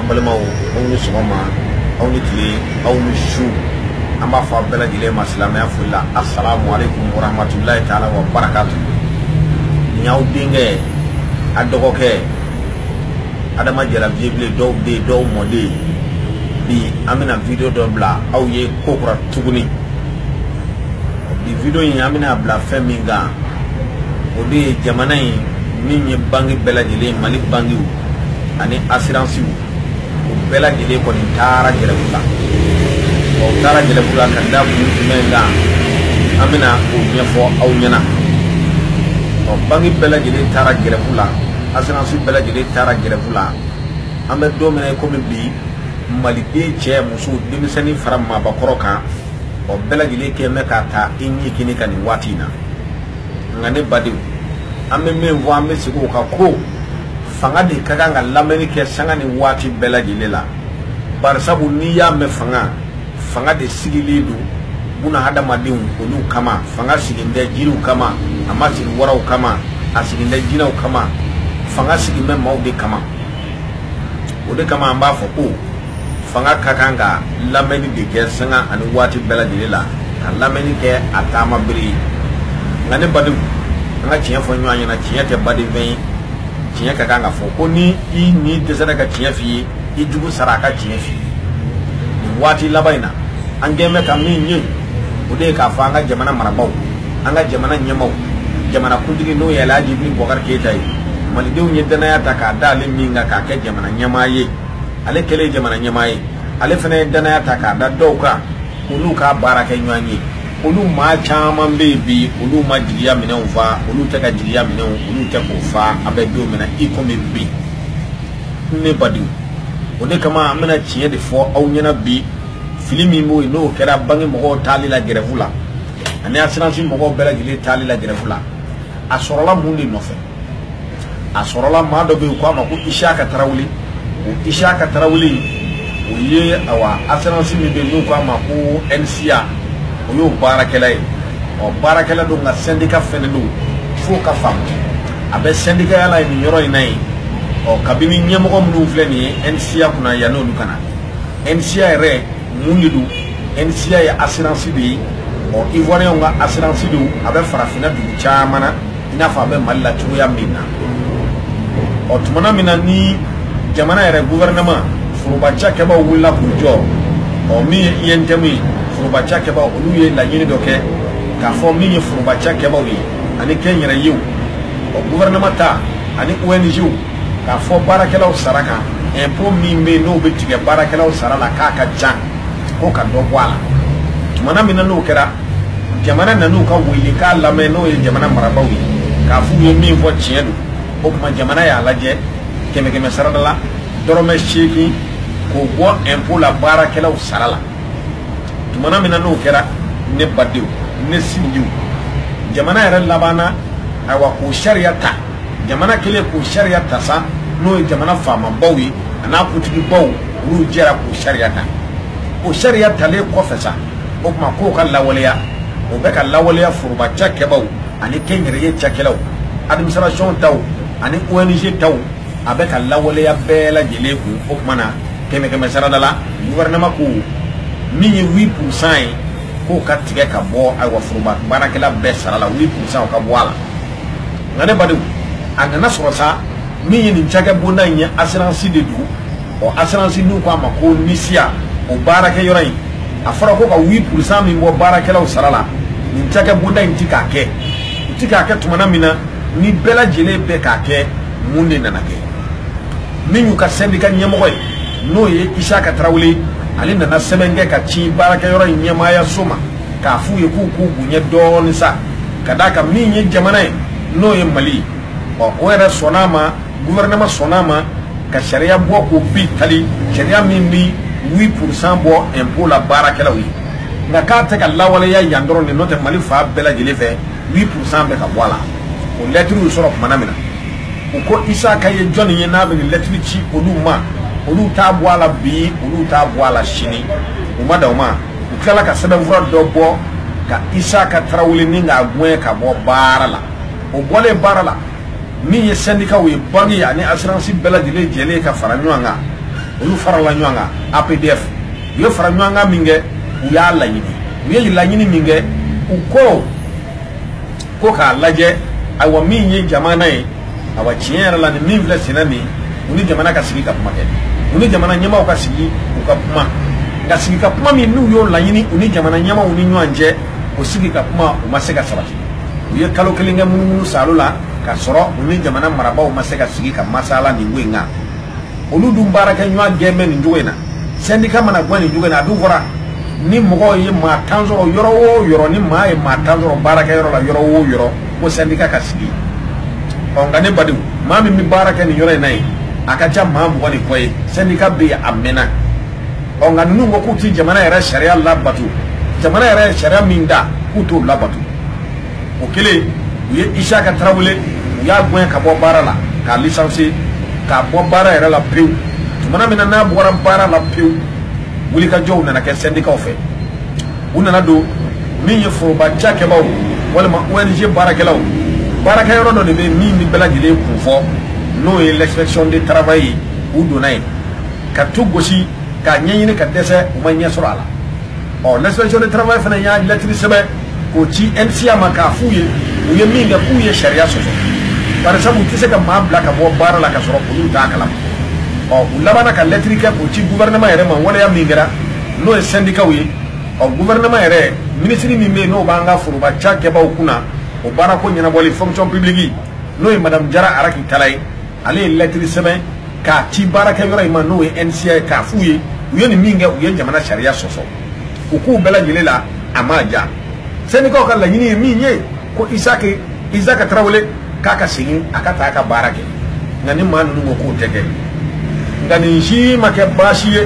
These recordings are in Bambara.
an balimaw aw ni sɔgɔma aw ni tile aw ni su an b'a fɔ a bɛɛ lajɛlen ma silamɛya foli la asalamu aleykum warahmatulahi taala wa barakatu nin y'aw denkɛ aw dɔgɔkɛ adama jara viyebilen dɔw den dɔw mɔden bi an bɛna video dɔ bila aw ye ko kura tuguni bi video in an bɛna bila fɛn min kan o de ye jamana in min ye banki bɛɛ lajɛlen mali bankiw ani asiransiw o bɛɛ lajɛlen kɔni taara gɛrɛfu la ɔ u taara gɛrɛfu la ka da kun jumɛn kan an bɛna o ɲɛfɔ aw ɲɛna ɔ banki bɛɛ lajɛlen taara gɛrɛfu la asiransi bɛɛ lajɛlen taara gɛrɛfu la an bɛ don min na i komi bi maliden cɛ muso denmisɛnnin fara maabakɔrɔ kan ɔ bɛɛ lajɛlen kɛlen bɛ k'a ta i ɲɛ kini ka nin waati in na nka ne badenw an bɛ min fɔ an bɛ segin o kan ko fanga de ka kan ka lamɛnni kɛ sanga ni waati bɛɛ lajɛlen la barisabu n'i y'a mɛn fanga fanga de sigilen don buna hadamadenw olu kama fanga sigilen tɛ jiriw kama a ma sigi waraw kama a sigilen tɛ jinɛw kama fanga sigilen bɛ maaw de kama o de kama an b'a fɔ ko fanga ka kan ka lamɛnni de kɛ sanga ani waati bɛɛ lajɛlen la ka lamɛnni kɛ a taamabere ye nka ne badenw an ka tiɲɛ fɔ ɲɔgɔn ɲɛna tiɲɛ tɛ badenfɛn ye tiɲɛ ka kan ka fɔ ko ni i ɲin dɛsɛra ka tiɲɛ f'i ye i jugu sara a ka tiɲɛ f'i ye nin waati laban in na an kɛlen bɛ ka min ye o de ye k'a fɔ an ka jamana marabaaw an ka jamana ɲɛmaaw jamana kuntigi n'o ye alhaji ibrahim bubakari keyita ye malidenw ye danaya ta k'a d'ale min kan k'a kɛ jamana ɲɛmaa ye ale kɛlen jamana ɲɛmaa ye ale fana ye danaya ta k'a da dɔw kan k'olu k'a baarakɛɲɔgɔn ye olu maa caman bɛ yen bi olu ma jigiya minɛnw fa olu tɛ ka jigiya minɛnw olu tɛ k'o fa an bɛ don min na i komi bi ne badenw o de kama an bɛna tiɲɛ de fɔ aw ɲɛna bi fili min b'o yen n'o kɛra banki mɔgɔw taali la gɛrɛfu la ani asiransi mɔgɔw bɛɛ lajɛlen taali la gɛrɛfu la a sɔrɔla mun de nɔfɛ a sɔrɔla maa dɔ bɛ yen u k'a ma ko isiyaka tarawele o isiyaka tarawele o ye awa assurance min bɛ yen n'u k'a ma ko nsia o y'o baarakɛla ye ɔ baarakɛla don nka sɛndika fɛnɛ don f'o ka faamu a bɛ sɛndikaya la nin yɔrɔ in na yen ɔ kabini ɲɛmɔgɔ minnu filɛ nin ye nsia kunna yanni olu ka na nsia yɛrɛ mun de don nsia ye assurance de ye ɔ ivoiriyɛnw ka assurance don a bɛ farafinna dugu caman na i n'a fɔ a bɛ mali la cogoya min na ɔ tumana min na ni jamana yɛrɛ guvɛrɛnɛman foroba cakɛbaaw wulila k'u jɔ ɔ min ye untm ye foroba cakɛbaaw olu ye laɲini dɔ kɛ k'a fɔ min ye foroba cakɛbaaw ye ani kɛnyɛrɛyew ɔ guvɛrɛnɛman ta ani ong k'a fɔ baarakɛlaw sara kan impôt min bɛ yen n'o bɛ tigɛ baarakɛlaw sara la k'a ka ca ko ka dɔ bɔ a la tumana min na n'o kɛra jamana nan'u ka welekan lamɛn n'o ye jamana marabaaw ye k'a f'u ye min fɔ tiɲɛ don o tuma jamana y'a lajɛ kɛmɛ kɛmɛ sarada la dɔrɔmɛ seegin k'o bɔ impôt la baarakɛlaw sara la tumana min na n'o kɛra ne badenw ne sinjiw jamana yɛrɛ labanna ayiwa k'o sariya ta jamana kɛlen k'o sariya ta sa n'o ye jamana faamabaw ye an'a kuntigibaw olu jɛra k'o sariya ta o sariya talen kɔfɛ sa o tuma k'o ka lawaleya o bɛ ka lawaleya foroba cakɛbaw ani kɛnyɛrɛye cakɛlaw administration taw ani ONG taw a bɛ ka lawaleya bɛɛ lajɛlen kun o tuma na kɛmɛ kɛmɛ sarada la gouvernement ko min ye 8 pourcent ye k'o ka tigɛ ka bɔ ayiwa foroba baarakɛla bɛɛ sara la 8 pourcent o ka bɔ a la nka ne badenw a nana sɔrɔ sa min ye nin cakɛ bonda in ye asiransi de don ɔ asiransi n'u ko a ma ko nisiya o baarakɛ yɔrɔ in a fɔra ko ka 8 pourcent min bɔ baarakɛlaw sara la nin cakɛ bonda in ti k'a kɛ u ti k'a kɛ tumana min na ni bɛɛ lajɛlen bɛ k'a kɛ mun de nana kɛ min y'u ka sɛndika ɲɛmɔgɔ ye n'o ye isaka tarawele ale nana sɛbɛn kɛ ka ci baarakɛyɔrɔ in ɲɛmaayaso ma k'a f'u ye k'u k'u bonya dɔɔni sa ka d'a kan min ye jamana ye n'o ye mali ye ɔ o yɛrɛ sɔnn'a ma guvɛrɛnɛman sɔnn'a ma ka sariya bɔ k'o bi tali sariya min bi 8 pourcent bɔ impôt la baarakɛlaw ye nka k'a tɛ ka lawaleya yan dɔrɔn de n'o tɛ mali fan bɛɛ lajɛlen fɛ 8 pourcent bɛ ka bɔ a la o lɛtiriw sɔrɔ tumana min na u ko isaka ye jɔnni ye n'a bɛ nin lɛtiri ci olu ma olu t'a bɔ a la bi olu t'a bɔ a la sini u ma dan o ma u tilala ka sɛbɛnfura dɔ bɔ ka isaka tarawele nin k'a gɛn ka bɔ baara la o bɔlen baara la min ye sɛndikaw ye banki ani asiransi bɛɛ lajɛlen jɛlen ka fara ɲɔgɔn kan olu farala ɲɔgɔn kan apdf u ye fara ɲɔgɔn kan min kɛ u y'a laɲini u ye laɲini min kɛ u ko ko k'a lajɛ ayiwa min ye jamana ye awa tiɲɛ yɛrɛ la ni min filɛ senna nin u ni jamana ka sigi ka kuma kɛ u ni jamana ɲɛmaaw ka sigi u ka kuma nka sigi ka kuma min n'u y'o laɲini u ni jamana ɲɛmaaw ni ɲɔgɔn cɛ o sigi ka kuma u ma se ka sabati u ye kalo kelen kɛ munumunu saalo la ka sɔrɔ u ni jamana marabaaw ma se ka sigi ka masala nin ko in kan olu dun baarakɛ ɲɔgɔn gɛn bɛ nin cogo in na sɛndika mana gɛn nin cogo in na a dun fɔra ni mɔgɔw ye maa tan sɔrɔ yɔrɔ o yɔrɔ ni maa ye maa tan sɔrɔ baarakɛyɔrɔ la yɔrɔ o yɔrɔ ko sɛndika ka sigi ɔ nka ne badenw maa min bɛ baara kɛ nin yɔrɔ in na yen a ka ca maa mugan ni kɔ ye sɛndika bɛ yen a mɛnna ɔ nka ninnu ko k'u ti jamana yɛrɛ sariya labato jamana yɛrɛ sariya min da k'u t'o labato o kelen u ye isiaka tarawele u y'a gɛn ka bɔ baara la k'a licencier k'a bɔ baara yɛrɛ la pewu tumana min na n'a bɔra baara la pewu wulikajɔw nana kɛ sɛndikaw fɛ u nana don min ye foroba cakɛbaaw walima ong baarakɛlaw baarakɛ yɔrɔ dɔ de bɛ min ni bɛɛ lajɛlen kun fɔ n'o ye l'inspection de travail ye u donna yen ka tu gosi k'a ɲɛɲini ka dɛsɛ u ma ɲɛ sɔrɔ a la ɔ l'inspection de travail fana y'a lɛtiri sɛbɛn k'o ci NSIA ma k'a f'u ye u ye min kɛ k'u ye sariya sɔsɔ barisabu u tɛ se ka maa bila ka bɔ baara la ka sɔrɔ olu t'a kalama ɔ u labanna ka lɛtiri kɛ k'o ci gouvernement yɛrɛ ma waleya min kɛra n'o ye sɛndikaw ye ɔ gouvernement yɛrɛ minisiri min bɛ yen n'o b'an ka foroba cakɛbaaw kunna o baarako ɲɛnabɔli fonction publique n'o ye madame jara raki tala ye ale ye lɛtiri sɛbɛn k'a ci baarakɛ yɔrɔ in ma n'o ye NSIA ye k'a f'u ye u ye nin min kɛ u ye jamana sariya sɔsɔ u k'u bɛɛ lajɛlen la a ma ja sɛndikaw ka laɲini ye min ye ko isiaka tarawele k'a ka segin a ka taa a ka baara kɛ nka ni maa ninnu ko k'o tɛ kɛ nka nin si ma kɛ baasi ye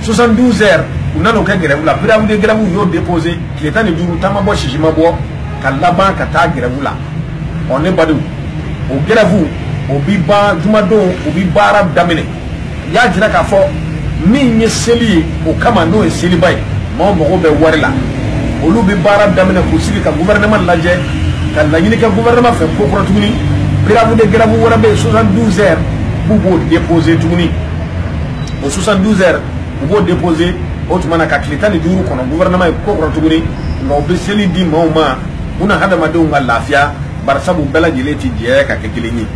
72 heures u nan'o kɛ gɛrɛwu la préavis de grève u y'o déposé tile tan ni duuru taama bɔ sisi ma bɔ ka laban ka taa gɛrɛwu la ɔ ne badenw o gɛrɛwu o bi ban jumadon o bi baara daminɛ u y'a jira k'a fɔ min ye seli ye o kama n'o ye seliba ye maaw mago bɛ wari la olu bɛ baara daminɛ k'u sigi ka gouvernement lajɛ ka laɲini kɛ gouvernement fɛ ko kura tuguni préavis de grève wɛrɛ bɛ yen 72 heures b'u b'o déposer tuguni o 72 heures u b'o déposer o tuma na ka tile tan ni duuru kɔnɔ gouvernement ye ko kura tuguni nka u bɛ seli di maaw ma buna hadamadenw ka lafiya barisabu bɛɛ lajɛlen tɛ jɛ ka kɛ kelen ye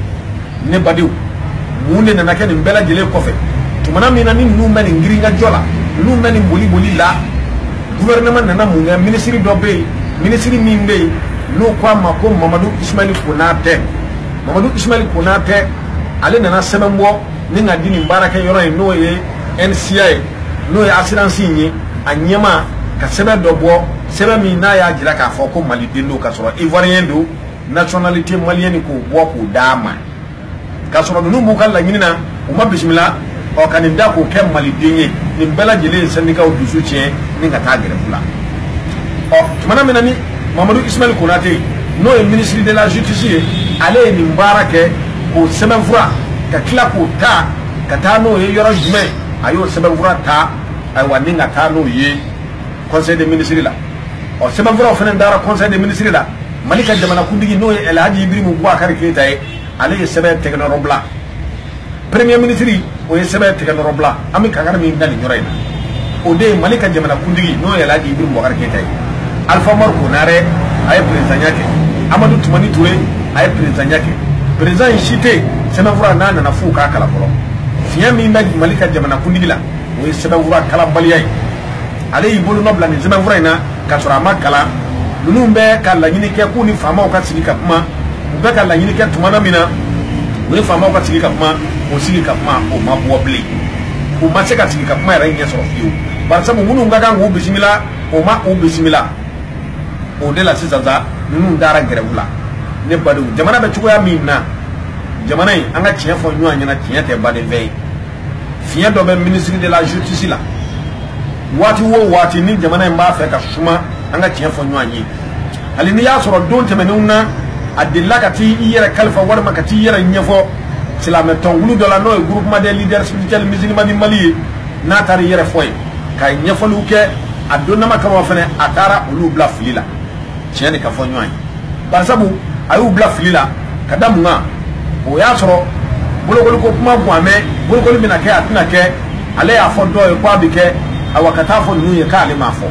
ne badenw mun de nana kɛ nin bɛɛ lajɛlen kɔfɛ tumana min na ni ninnu bɛ nin girinkajɔ la ninnu bɛ nin boli boli la gouvernement nana mun kɛ minisiri dɔ bɛ yen minisiri min bɛ yen n'o ko a ma ko mamadu ismaili konatɛ mamadu ismaili konatɛ ale nana sɛbɛn bɔ ni ka di nin baarakɛ yɔrɔ in n'o ye nsia ye n'o ye assurance in ye a ɲɛmaa ka sɛbɛn dɔ bɔ sɛbɛn min n'a y'a jira k'a fɔ ko maliden don k'a sɔrɔ ivoirien don nationalité malienne k'o bɔ k'o d'a ma k'a sɔrɔ ninnu b'u ka laɲini na u ma bisimila ɔ ka nin da k'o kɛ maliden ye nin bɛɛ lajɛlen ye sɛndikaw dusu tiɲɛ ni ka taa gɛrɛfu la ɔ tumana min na ni mamadu ismail konate n'o ye ministre de la justice ye ale ye nin baara kɛ k'o sɛbɛnfura ka tila k'o ta ka taa n'o ye yɔrɔ jumɛn a y'o sɛbɛnfura ta ayiwa ni ka taa n'o ye conseil des ministres la ɔ sɛbɛnfuraw fana dara conseil des ministres la mali ka jamanakuntigi n'o ye alhaji ibirimu bubakari keyita ye ale ye sɛbɛn tɛgɛnɔrɔ bila premier ministre o ye sɛbɛn tɛgɛnɔrɔ bila an bɛ kankari min da nin yɔrɔ in na o de ye mali ka jamanakuntigi n'o ye alhaji ibirimu bubakari keyita ye alpha umari konare a ye perezidanya kɛ amadu tumani ture a ye perezidanya kɛ perezidan in si tɛ yen sɛbɛnfura n'a nana f'u k'a kalan fɔlɔ fiɲɛ min bɛ mali ka jamanakuntigi la o ye sɛbɛnfura kalanbaliya ye ale y'i bolonɔ bila nin sɛbɛnfura in na k'a sɔrɔ a ma kalan ninnu bɛ ka laɲini kɛ k'u ni faamaw ka sigi ka kuma u bɛ ka laɲini kɛ tuma na min na u ni faamaw ka sigi ka kuma o sigi ka kuma o ma bɔ bilen u ma se ka sigi ka kuma yɛrɛ ɲɛ sɔrɔ fiyewu barisabu minnu ka kan k'u bisimila o ma u bisimila o de la sisan sa ninnu dara gɛrɛw la ne badenw jamana bɛ cogoya min na jamana in an ka tiɲɛ fɔ ɲɔgɔn ɲɛna tiɲɛ tɛ baden fɛn ye fiɲɛ dɔ bɛ ministre de la justice la waati o waati ni jamana in b'a fɛ ka suma an ka tiɲɛ fɔ ɲɔgɔn ye hali n'i y'a sɔrɔ don tɛmɛnenw na a delila ka taa i yɛrɛ kalifa walima ka t'i yɛrɛ ɲɛfɔ silamɛ tɔnkulu dɔ la n'o ye groupement des leaders spirituels musulmans du mali ye n'a taara i yɛrɛ fɔ yen ka ɲɛfɔliw kɛ a donnama kalama fɛnɛ a taara olu bila fili la tiɲɛ de ka fɔ ɲɔgɔn ye barisabu a y'u bila fili la ka da mun kan o y'a sɔrɔ bolokoli ko kuma kun a mɛn bolokoli bɛna kɛ a tɛna kɛ ale y'a fɔ dɔw ye ko a bɛ kɛ awa ka t'a fɔ ninnu ye k'ale m'a fɔ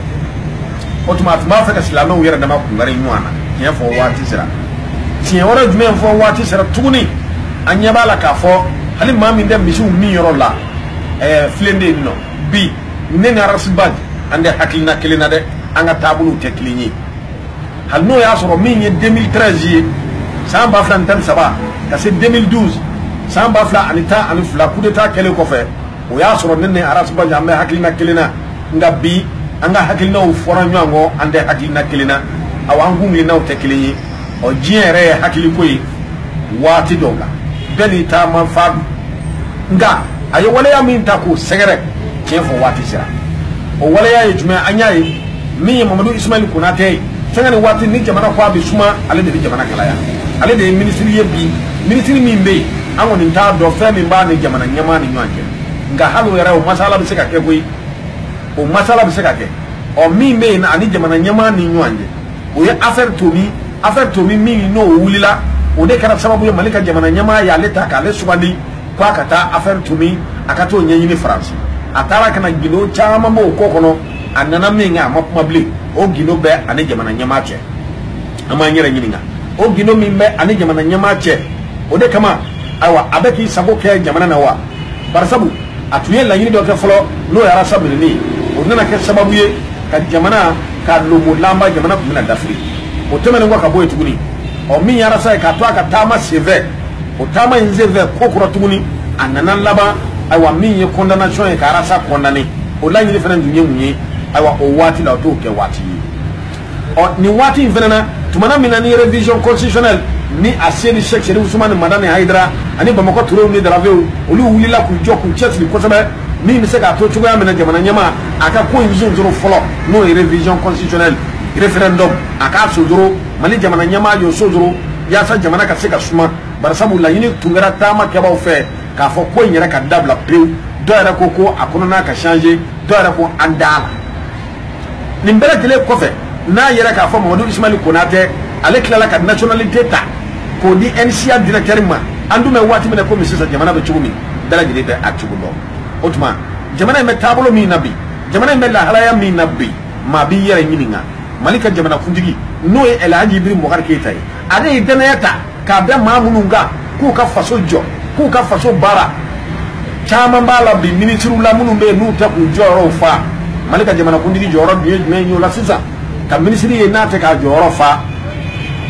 o tuma a tun b'a fɛ ka silamɛw yɛrɛ dama kungari ɲɔgɔn na tiɲɛ fɔ waati sera tiɲɛ wɛrɛ jumɛn fɔ waati sera tuguni an ɲɛ b'a la k'a fɔ hali maa min tɛ misiw minyɔrɔ la ɛɛ filenden nɔ bi ne ni ras bath an tɛ hakilina kelen na dɛ an ka taabolow tɛ kelen ye hali n'o y'a sɔrɔ min ye 2013 ye san ba fila ni tan ni saba ka se 2012 san ba fila ani tan ani fila kudeta kɛlen kɔfɛ o y'a sɔrɔ ne ni ras bath an bɛ hakilina kelen na nka bi an ka hakilinaw fɔra ɲɔgɔn kɔ an tɛ hakilina kelen na awa an kuntilennaw tɛ kelen ye ɔ diɲɛ yɛrɛ ye hakiliko ye waati dɔw la bɛɛ n'i taama fan don nka a ye waleya min ta k'o sɛgɛrɛ tiɲɛ fɔ waati sera o waleya ye jumɛn an y'a ye min ye mamadu ismail konatɛ ye fɛnkɛ ni waati ni jamana ko a bɛ suma ale de bɛ jamana kalaya ale de ye minisiri ye bi minisiri min bɛ yen an kɔni t'a dɔn fɛn min b'a ni jamana ɲɛmaa ni ɲɔgɔn cɛ nka hali o yɛrɛ o masala bɛ se ka kɛ koyi o masala bɛ se ka kɛ o min bɛ yen ani jamana ɲɛmaa ni ɲɔgɔn cɛ o ye affaire tomi affaire tomi min n'o wulila o de kɛra sababu ye mali ka jamana ɲɛmaa y'ale ta k'ale sugandi k'a ka taa affaire tomi a ka t'o ɲɛɲini faransi a taara ka na gindo caman b'o ko kɔnɔ a nana min kɛ a ma kuma bilen o gindo bɛ a ni jamana ɲɛmaa cɛ an b'an yɛrɛ ɲininka o gindo min bɛ a ni jamana ɲɛmaa cɛ o de kama ayiwa a bɛ k'i sago kɛ jamana na wa barisabu a tun ye laɲini dɔ kɛ fɔlɔ n'o ye arasa minɛni ye o nana kɛ sababu ye ka jamana k'a lomolanba jamana tun bɛna dafiri o tɛmɛnen kɔ ka bɔ yen tuguni ɔ min ye arasa ye k'a to a ka taama senfɛ o taama in senfɛ ko kura tuguni a nana laban ayiwa min ye condamnation ye ka arasa condamné o laɲini fana tun ye mun ye ayiwa o waati la o t'o kɛ waati ye ɔ nin waati in fana na tumana min na ni révision constitutionnelle ni aseyidi sɛk serifu usumani madani hayidara ani bamakɔ turew ni daravew olu wulila k'u jɔ k'u cɛsiri kosɛbɛ min bɛ se k'a to cogoya min na jamana ɲɛmaa ka ko in sonsoro fɔlɔ n'o ye révision constitutionnelle référendum a k'a sonsoro mali jamana ɲɛmaa y'o sonsoro yaasa jamana ka se ka suma barisabu laɲini tun kɛra taama kɛbaaw fɛ k'a fɔ ko in yɛrɛ ka dabila pewu dɔ yɛrɛ ko ko a kɔnɔna ka changer dɔ yɛrɛ ko an t'a la nin bɛɛ lajɛlen kɔfɛ n'a yera k'a fɔ mamadu ismail konatɛ ale tilala ka nationalité ta k'o di nsia directeur ma an dun bɛ waati min na komi sisan jamana bɛ cogo min bɛɛ lajɛlen bɛ a cogo dɔn o tuma jamana in bɛ taabolo min na bi jamana in bɛ lahalaya min na bi maa b'i yɛrɛ ɲininka mali ka jamanakuntigi n'o ye ɛlɛhaji ibrahim bubakari keyita ye ale ye danaya ta k'a da maa minnu kan k'u ka faso jɔ k'u ka faso baara caman b'a la bi minisiriw la minnu bɛ yen n'u tɛ k'u jɔyɔrɔw fa mali ka jamanakuntigi jɔyɔrɔ dun ye jumɛn ye o la sisan ka minisiri ye n'a tɛ k'a jɔyɔrɔ fa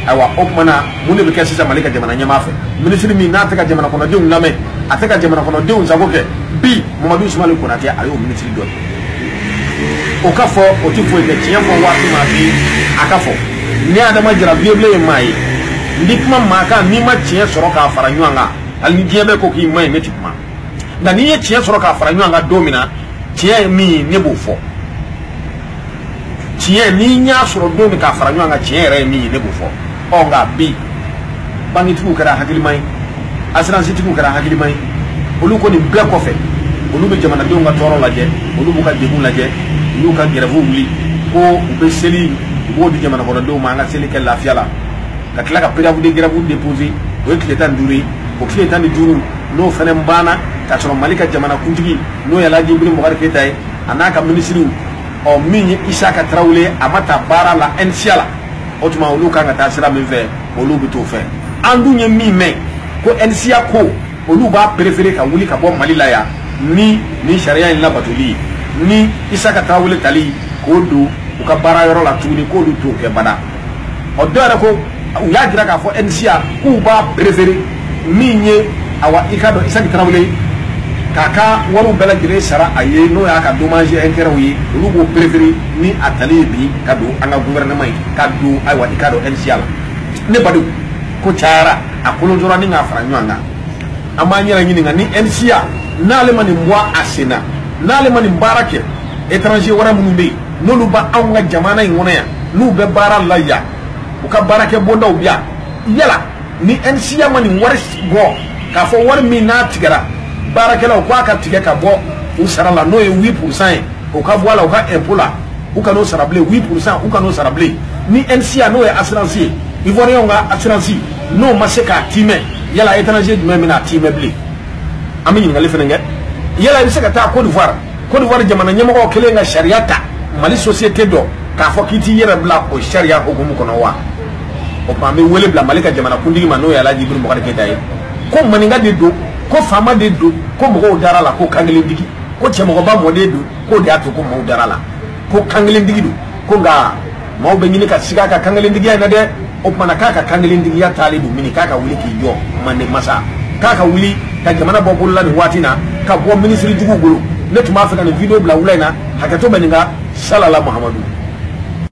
ayiwa o tuma na mun de bɛ kɛ sisan mali ka jamana ɲɛmaa fɛ minisiri min n'a tɛ ka jamanakɔnɔdenw lamɛn a tɛ ka jamanakɔnɔdenw sago kɛ bi mamadu sumayila konatɛ a y'o minisiri dɔ ye o ka fɔ o tɛ foyi kɛ tiɲɛ fɔ waati ma bi a ka fɔ ne adama jara viyebilen ye maa ye n tɛ kuma maa kan ni n ma tiɲɛ sɔrɔ k'a fara ɲɔgɔn kan hali ni diɲɛ bɛɛ ko k'i man ɲi ne tɛ kuma nka ni n ye tiɲɛ sɔrɔ k'a fara ɲɔgɔn kan don min na tiɲɛ ye min ye ne b'o fɔ tiɲɛ ni n y'a sɔrɔ don min k'a fara ɲɔgɔn kan tiɲɛ yɛrɛ ye min ye ne b'o fɔ ɔ nka bi bankitigiw kɛra hakilima ye asiransitigiw kɛra hakilima ye olu ko nin bɛɛ kɔfɛ olu bɛ jamanadenw ka tɔɔrɔ lajɛ olu b'u ka degun lajɛ u y'u ka gɛrɛfuw wuli ko u bɛ seli u b'o di jamanakɔnɔdenw ma an ka seli kɛ lafiya la ka tila ka préavis de grève déposer o ye tile tan ni duuru ye o tile tan ni duuru n'o fana banna k'a sɔrɔ mali ka jamanakuntigi n'o ye alhaji ibrahim bubakari keyita ye a n'a ka minisiriw ɔ min ye isaka tarawele ye a ma ta baara la ɛnisiya la o tuma olu kan ka taa sira min fɛ olu bɛ t'o fɛ an dun ye min mɛn ko ɛnisiya ko olu b'a perefere ka wuli ka bɔ mali la yan ni nin sariya in labatoli ni isaka tarawele tali k'o don u ka baara yɔrɔ la tuguni k'olu t'o kɛ bada ɔ dɔ yɛrɛ ko u y'a jira k'a fɔ NSIA k'u b'a préféré min ye awa i k'a dɔn Isaki Tarawele k'a ka wariw bɛɛ lajɛlen sara a ye n'o y'a ka dommage intérêtw ye olu b'o préféré ni a tali ye bi ka don an ka gouvernement ye ka don ayiwa i k'a dɔn NSIA la ne badenw ko cayara a kolonjora ni k'a fara ɲɔgɔn kan an b'an yɛrɛ ɲininka ni NSIA n'ale ma nin bɔ a sen na n'ale ma nin baara kɛ étranger wɛrɛ minnu bɛ yen n'olu bɛ anw ka jamana in kɔnɔ yan n'u bɛ baara la yan u ka baarakɛ bondaw bi yan yala ni NSIA ma nin wari bɔ k'a fɔ wari min n'a tigɛra baarakɛlaw k'a ka tigɛ ka bɔ u sara la n'o ye 8 pourcent ye o ka bɔ a la u ka impôt la u kan'o sara bilen 8 pourcent u kan'o sara bilen ni NSIA n'o ye assurance ye ivoiriyɛnw ka assurance n'o ma se k'a tiimɛ yala étranger jumɛn bɛna a tiimɛ bilen an bɛ ɲininkali fana kɛ yala i bɛ se ka taa Côte d'Ivoire Côte d'Ivoire jamana ɲɛmɔgɔw kɛlen ka sariya ta Mali société dɔ k'a fɔ k'i t'i yɛrɛ bila o sariya hukumu kɔnɔ wa o tuma an bɛ wele bila Mali ka jamana kuntigi ma n'o ye Alaji Iburahima Bubakari Keyita ye ko maninka de don ko faama de don ko mɔgɔw dara la ko kankelentigi ko cɛmɔgɔba mɔden don k'o de y'a to ko mɔgɔw dara la ko kankelentigi don ko nka maaw bɛ ɲini ka siga a ka kankelentigiya in na dɛ o tuma na k'a ka kankelentigiya taalen don mini k'a ka wuli k'i jɔ manden masa k'a ka wuli ka jamana bɔ bolola nin waati na ka bɔ minisiri juguw bolo ne tun b'a fɛ ka nin video bila wula in na hakɛto bɛ nin kan salala Mahamadu